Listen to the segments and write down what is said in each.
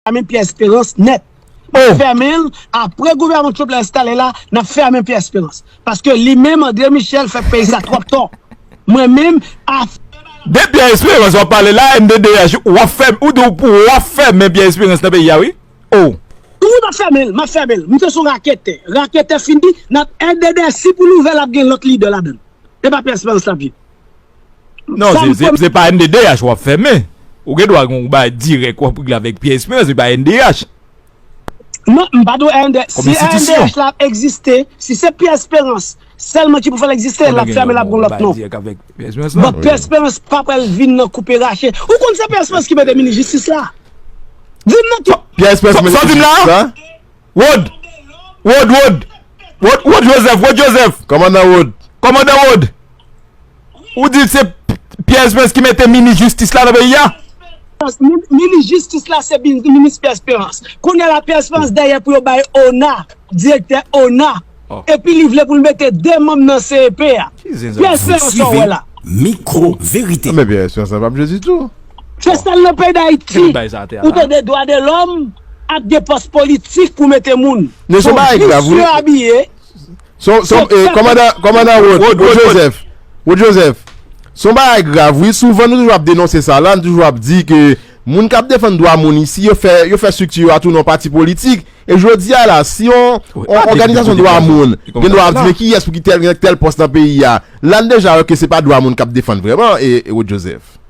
Fèmen Pierre Espérance nèt. Nap fèmen l apre gouvèman Trump la enstale la nap fèmen Pierre Espérance. Paske li menm André Michel fè peyi sa twòp tò. Mwen menm afè bay la. De Pierre Espérance wap pale la MDDH wap fè ou di pou wap fèmen Pierre Espérance nan peyi a wi oh. Wi map fèmen l map fèmen l. Misye son raketè. Raketè fini nap MDDH si pou l ouvè lap gen lòt lidè ladan l. E pa Pierre Espérance lap ye. Non se pa NDDH wap fè men Ou gen dwa gen yon bagay dirèk wap regle avèk Pierre Esperance se pa NDDH Non m pa dwe a NDDH Kòm enstitisyon Si NDDH la ap egziste Si se Pierre Esperance sèlman ki pou fè l egziste l ap fèmen l ap gen yon lòt non Bon Pierre Esperance pa pral vin nan koupe rache Ou konn se Pierre Esperance ki mete minis jistis la Di m nan ki Pierre Esperance ki mete minis jistis la Rod! Rod, Rod! Rod, Rod Joseph, Rod Joseph! Kòmandan Rod! Kòmandan Rod! Ou di se Pierre Esperance ki mete minis jistis la nan peyi a? Minis jistis la se minis Pierre Esperance. Kounye a la Pierre Esperance dèyè pou yo bay ona, direktè ona Epi li vle pou l mete 2 manm nan CEP a. Pyè se yon sa w wè la. Men Pyè Esperans la pap jwe ditou. Se sèl nan peyi Dayiti ou tande dwa de lòm ap gen pòs politik pou mete moun. Son jis yo abiye. Kòmandan Rod Joseph, son bagay grav wi. Souvan nou toujou ap denonse sa la. Nou toujou ap di ke moun k ap defann dwa moun isi yo fè strikti yo a tou nan pati politik. E jodi a la, si yon òganizasyon dwa moun gen dwa ap di men kiyès pou ki tèl gen tèl pòs nan peyi a, la n deja wè ke se pa dwa moun k ap defann vrèman, Rod Joseph.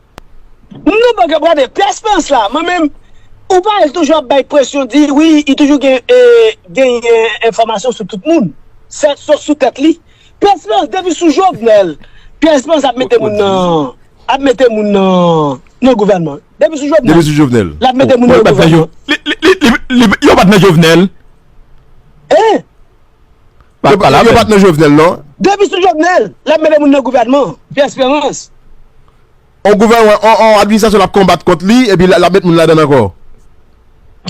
Moun nan pa k ap gade Pyè Esperans la, mwen menm, ou pa wè l toujou ap bay presyon di wi, li toujou gen genyen enfòmasyon sou tout moun, sof sou tèt li. Pyè Esperans, depi sou Jovenel, Pyè Esperans ap mete moun nan, ap mete moun nan gouvènman. Depi sou jovenel. Depi sou jovenel. Lap mete moun yo gouvenman. Yo pat nan jovenel. Hein. Yo pat nan jovenel non. Depi sou jovenel. Lap mete moun yo gouvenman. Pierre Esperance. On gouvenman on administration lap konbat kont li epi lap mete moun la dan anko.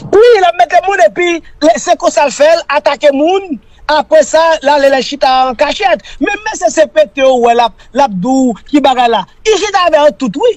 Wi lap mete moun epi se konsal fel atake moun apre sa lale la chita an kachet. Menm mesye CPT ou we lap lap di ou ki bagay la. Li chita avè yo tout wi.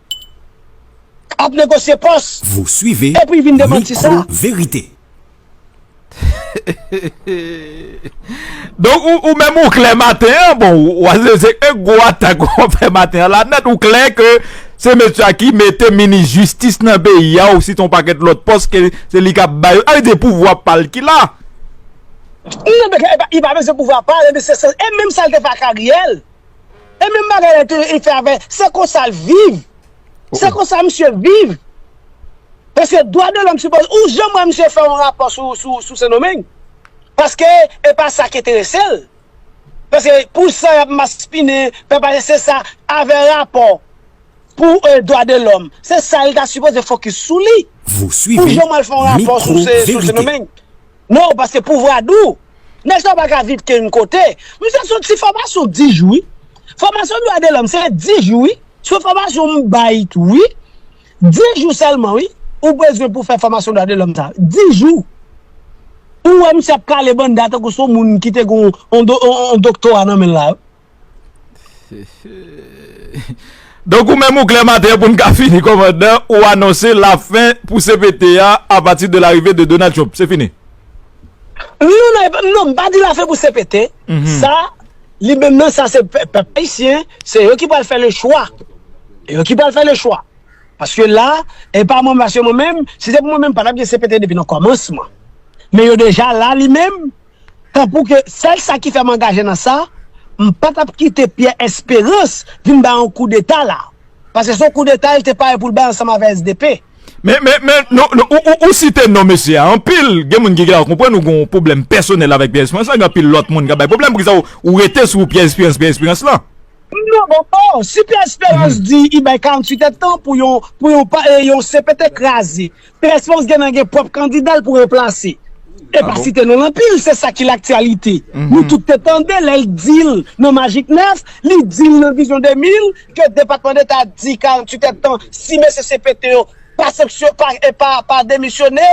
ap negosye pòs. Vous suivez Epi vin demanti sa. Micro verite. Donk ou menm ou klè maten an bon wazè se yon gwo atak wap fè maten an la nèt ou klè ke se mesye a ki mete minis jistis nan peyi a ou site yon pakèt lòt pòs ke se li kap bay yo sa vle di se pouvwa pal ki la. Non men li pa bezwen pouvwa pal e menm sa l te fè ak Ariel. E menm bagay la te fè avè, se konsa l viv. Se konsa misye viv. Paske dwa de lòm sipoze, ou janm wè misye fè yon rapò sou Sendomeng? Paske e pa sa ki enterese l. Paske pou sa y ap maspinen, fè pale se sa, avè rapò pou dwa de lòm. Se sa l ta sipoze fokis sou li. Ou janm wè l fè yon rapò sou Sendomeng? Non paske pouvra dou. Nèg sa paka viv kenyn kote. Misye son ti fòmasyon 10 jou wi. Fòmasyon dwa de lòm se 10 jou wi. Son fòmasyon m bay tou wi. 10 jou sèlman wi ou bezwen pou fè fòmasyon dwa de lòm sa. 10 jou. Ou wè misye ap kale banda tankou son moun ki te gen yon doktora nan menl la. Donk ou menm ou klè maten pou n ka fini kòmandan, ou anonse la fen pou cpt a apati de larive de Donald Trump. Se fini? Non nan, non m pa di la fen pou cpt, sa li menm nan sa se pèp ayisyen, se yo ki pral fè le chwa. E yo ki pral fè le chwa. Paske la, e pa mwen paske mwen menm, si se pou mwen menm pa tap gen cpt depi nan kòmansman. Men yo deja la li menm. Tanpou ke sèl sa ki fè m angaje nan sa, m pa t ap kite Pierre Espérance vin bay yon koudeta la. Paske se yon koudeta li te pare pou l bay ansanm avè sdp. Men, men, men, nou, ou site non mesye a anpil. Gen moun ki genlè konprann ou gen yon pwoblèm pèsonèl avèk Pierre Espérance la. Gen anpil lòt moun k ap bay pwoblèm. Poukisa ou rete sou Pierre Espérance, Pierre Espérance la? Non, bon, o! Si Pierre Espérance di li bay 48 èdtan pou yon, pou yon pa, yon CPT kraze, Pès fòs gen nan gen pwòp kandida l pou ranplase. E pa site non l anpil, se sa ki laktyalite. Nou tout te tande lè l di l nan Majik 9, li di l nan Vizyon 2000 ke Depatman Deta di 48 èdtan si mesye CPT yo pa sanksyon, pa e pa pa demisyone,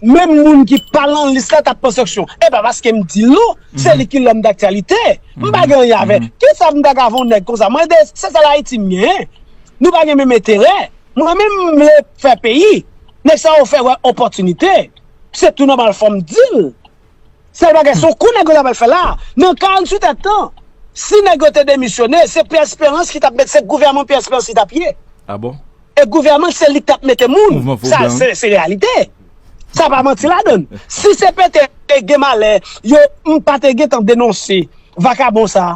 menm moun ki pa lan lis la t ap pran sanksyon. E pa paske m di l non, se li ki lòm daktyalite. M pa gen anyen avè. Kisa m ta ka fè yon nèg konsa? Mwen de se sèl Ayiti m gen. Nou pa gen menm enterè. Mwen menm m vle fè peyi, nèg sa yo fè wè opòtinite, se tou nòmal fò m di l. Sèl bagay se yon kou nèg yo ta pral fè la, nan 48 è tan, si nèg yo te demisyone, se Pyè Esperans ki t ap mete, se gouvèman Pyè Esperans ki t ap ye. A bon? E gouvèman se li k t ap mete moun, sa se reyalite, sa pa manti ladan l. Si CPT te gen malè yo, m pa te gentan denonse vakabon sa,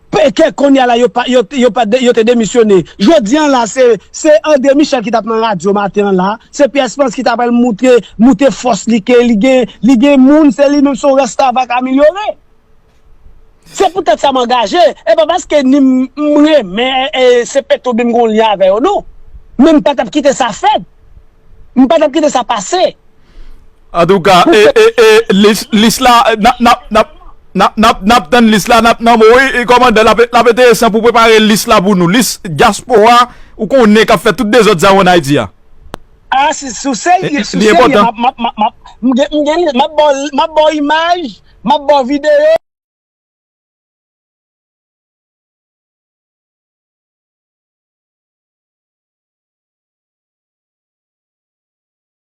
Pèkè konnya la yo pa yo pa yo te demisyone. Jodi an la se se André Michel ki tap nan radyo maten an la, se Pierre Esperance ki ta pral moutre moute fòs li ke li gen li gen moun se li menm se yon restavèk amelyore. Se pou tèt sa m angaje, e pa paske ni m m renmen CPT oubyen m gen yon lyen avè yo non. Men m pa tap kite sa fèt. M pa tap kite sa pase. Antouka lis la nap tann lis la nap nan mou wi kòmandan lap enteresan pou prepare lis la pou nou lis dyaspora ou konnen kap fè tout dezòd sa yo an Ayiti a. A si ou serye si ou serye map baw imaj map baw videyo.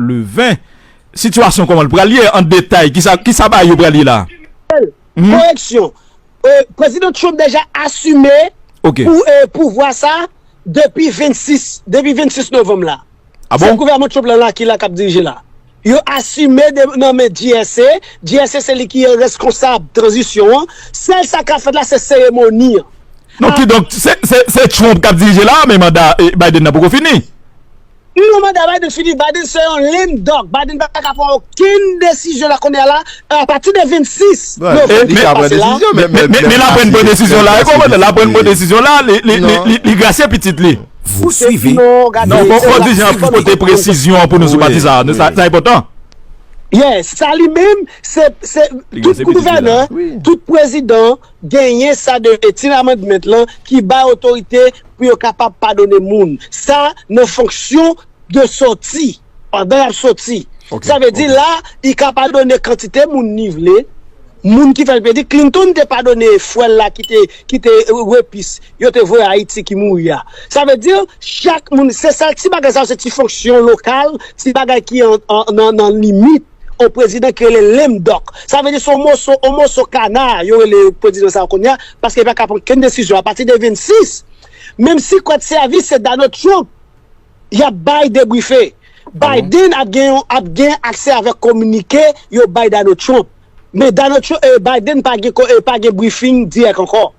Le 20, sitiyasyon kòman l pral ye an detay? Ki sa bagay yo pral ye la a? Michel, koreksyon, Prezidan Trump deja asime pouvwa sa a depi 26 novanm la. A bon? Se gouvèman Trump lan la ki la k ap dirije la. Yo asime nan men GSA. GSA se li ki reskonsab tranzisyon an. Sèl sa k ap fèt la se seremoni an. Non, kidonk, se Trump k ap dirije la a men manda Biden nan poko fini? Non manda Biden fini, Biden se yon lame duck, Biden pa ka pran okenn desizyon la kounye a la, a pati de 26 Novanm ki pase la. Men la pran bon desizyon la, la pran bon desizyon la, li grasye pitit li. Vous suivez Non bon bon di jan pou pote presizyon pou nou sou pati sa, sa enpotan. Yes, sa li menm se tout gouvènè, tout prezidan. Genyen sa de Eighteen Amendment lan ki bay otorite pou yo kapab padone moun sa nan fonksyon de soti, pandan y ap soti. Sa vle di la, li ka padone kantite moun li vle, moun ki fè l pedi. Clinton te padone frè l la ki te repis yo te voye Ayiti ki mouri a. Sa vle di chak moun, se sa ti bagay sa yo se ti fonksyon lokal, ti bagay ki nan limit. on prezidan ki rele lame duck. Sa vle di se yon moso, on moso kana yo rele prezidan sa a kounye a, paske li pa ka pran kenn desizyon apati de 26, menm si kòd sèvis se Donald Trump y ap bay debrife. Biden ap gen yon, ap gen aksè avèk kominike yo bay Donald Trump. Men Donald Trump, Biden pa gen, pa gen brifing dirèk ankò.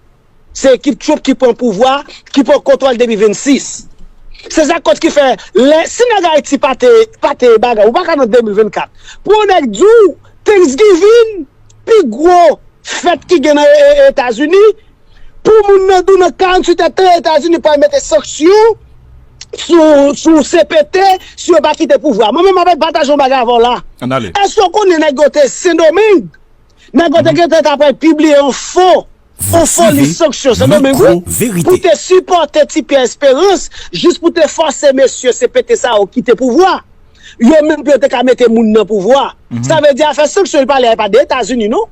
Se ekip Trump ki pran pouvwa, ki pran kontwòl depi 26. Se sa kot ki fè, lè, si nèg Ayiti pa te, pa te bagay, ou pa ka nan 2024. Pou yon nèg di w, Thanksgiving, pi gwo fèt ki gen nan Etazini, pou moun nan di w nan 48 è tan Etazini pral mete sanksyon sou, sou cpt, si yo pa kite pouvwa. Mwen menm m'ap pataje yon bagay avè w la. Ann ale. Èske w konnen nèg yo te Sendomeng? Nèg yo te gentan ta pral pibliye yon fo. Yon foli sanksyon sendomingo pou te sipòte ti pyè esperans jis pou te fòse mesye CPT sa yo kite pouvwa yo menm pou yo te ka mete moun nan pouvwa sa vle di afè sanksyon li pale a e pa de etazini non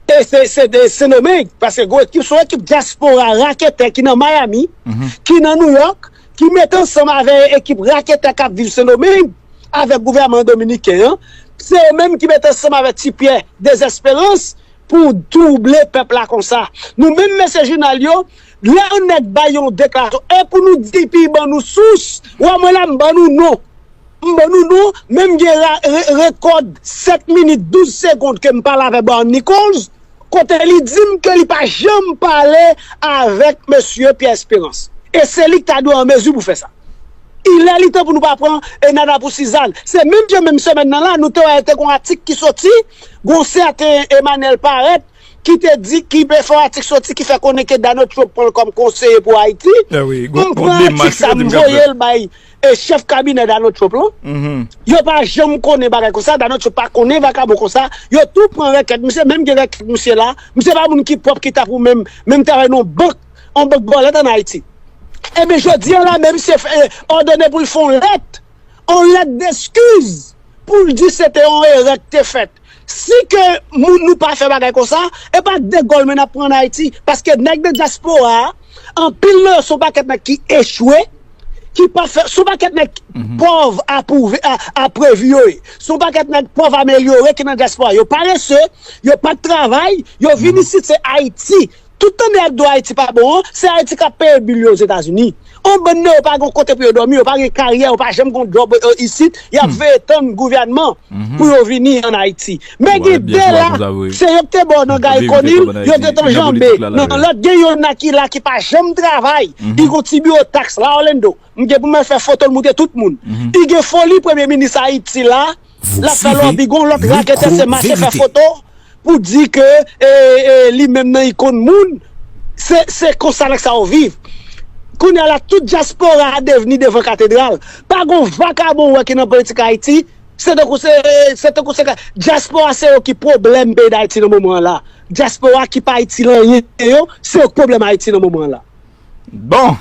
e se de sendomeng paske gwo ekip son ekip dyaspora raketè ki nan miami ki nan nouyòk ki mete ansanm avè ekip raketè kap viv sendomeng avèk gouvèman dominiken an se yo menm ki mete ansanm avè ti pyè dezesperans. Pou trouble pèp la konsa. Nou menm mesye jounal yo lè yon nèg bay yon deklarasyon e pou nou di pi ban nou sous wè mwen la m ban nou non m ban nou non men m gen rekòd 7 minit 12 segond ke m pale avè Bar Nichols kote li di m ke li pa janm pale avèk mesye Pierre Espérance e se li ki ta dwe an mezi pou fè sa ilè li tan pou nou pa pran e nana pou sizann se menm jan menm semèn nan la nou te wè te gon atik ki soti. Gon w sèten Emmanuel Paret ki te di ki bè fò atik soti ki fè konnen ke Donald Trump pran l kòm konseye pou Ayiti. M pran atik sa m voye l bay chèf kabinè Donald Trump lan. Yo pa janm konnen bagay konsa, Donald Trump pa konnen vakabon konsa. Yo tou pran rèkèt misye, menm gen rèkèt misye la. Misye pa moun ki pwòp ki ta pou menm menm travay nan yon bank, yon bank bòlèt an Ayiti. Enben jodi a la menm se òdone pou l fè yon lèt. on lèt deskiz pou l di se te on erè k te fèt. Si ke moun nou pa fè bagay konsa, e pa degòl men n ap pran an Ayiti. Paske nèg nan dyaspora a, anpil nan yo son pakèt nèg ki echwe, ki pa fè, son pakèt nèg pòv a pwouve, a previ yo ye. Son pakèt nèg pòv amelyore ki nan dyaspora. Yo parese, yo pa travay, yo vin isit se Ayiti. Tout tande ak do Ayiti pa bon an, se Ayiti kap peye bil yo Ozetazini. On bann nan yo pa gon kote pou yo domi, yo pa gen karyè, yo pa janm gon job isit, yap veye tann gouvènman pou yo vini an Ayiti. Men gen 2 la, se yo ki te bo nan Guy Conille, yo te ton janbe nan lot gen yon nan ki la ki pa janm travay, li gon ti biwo tax la Orlando, m gen pou m al fè fotol moute tout moun. Li gen foli premye minis Ayiti la. Lap fè lòbi gon lòt raketè se mache fè foto pou di ke li menm nan li konn moun se konsa nèg sa yo viv kounya la tout dyaspora a devni devan katedral pa gon vakabon ou wè ki nan politik ayiti se tankou se se tankou se dyaspora se yo ki pwoblèm peyi dayiti nan moman an la dyaspora ki pa itil anyen yo se yo ki pwoblèm ayiti nan moman an la. Bon!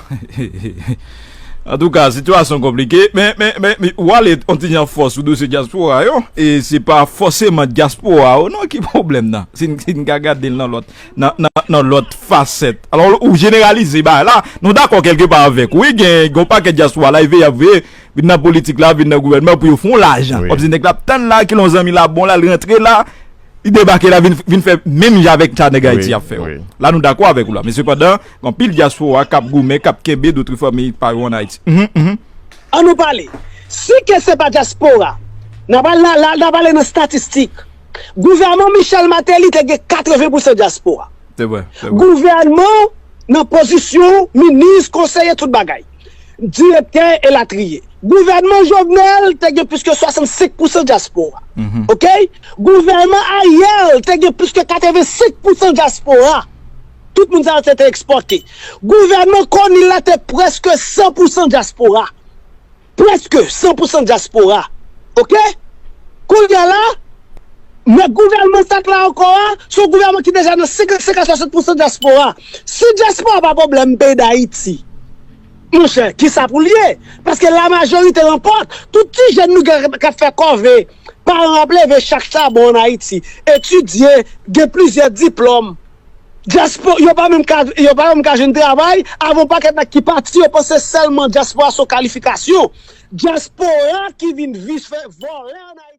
Antouka, sitiyasyon konplike, men, men, men, men, ou ale yon ti jan fò sou dosye dyaspora yo, e se pa fòseman dyaspora ou non ki pwoblèm nan, si n, si n ka gade l nan lòt, nan, nan, nan lòt fasèt. Alò, ou jeneralize bagay la, nou dakò kèlke pa avèk ou wi, gen, gen yon pakèt dyaspora la, y veye, y ap veye, vin nan politik la, vin nan gouvènman pou yo fè yon lajan. Wap di nèg la ap tann la, kilè yon zanmi la bon la, l rantre la. Li debake la vin fè menm jan avèk sa nèg Ayiti ap fè yo. La nou dakò avèk ou la. Men sepandan, gen anpil dyaspora k ap goumen, k ap kenbe doutri fanmi pa yo ann Ayiti. An nou pale. Si ke se pa dyaspora, n ap al nan, la n ap ale nan statistik. Gouvèman Michel Martelly te gen 80 pousan dyaspora. Se vre, se vre. Gouvèman nan pozisyon, minis, konseye, tout bagay. direktè elatriye. Gouvènman Jovenel te gen plis ke 65 pousan dyaspora. Ok? Gouvènman Ariel te gen plis ke 85 pousan dyaspora. Tout moun sa yo se te ekspòte. Gouvènman Conille la te prèske 100 pousan dyaspora. Prèske 100 pousan dyaspora. Ok? Kounye a la, men gouvènman sa k la ankò a, se yon gouvènman ki deja nan 55 a 60 pousan dyaspora. Si diaspora pa pwoblèm peyi dayiti monchè kisa poul ye paske la majorite lanpòt tout ti jèn nou gen kap fè kòve paran ap leve chak chabon an ayiti etidye gen plizyè diplòm diaspora yo pa menm ka yo pa menm ka jwenn travay avè yon pakèt nèg ki pati yo panse sèlman diaspora son kalifikasyon diaspora ki vin vise vòlè an ayiti.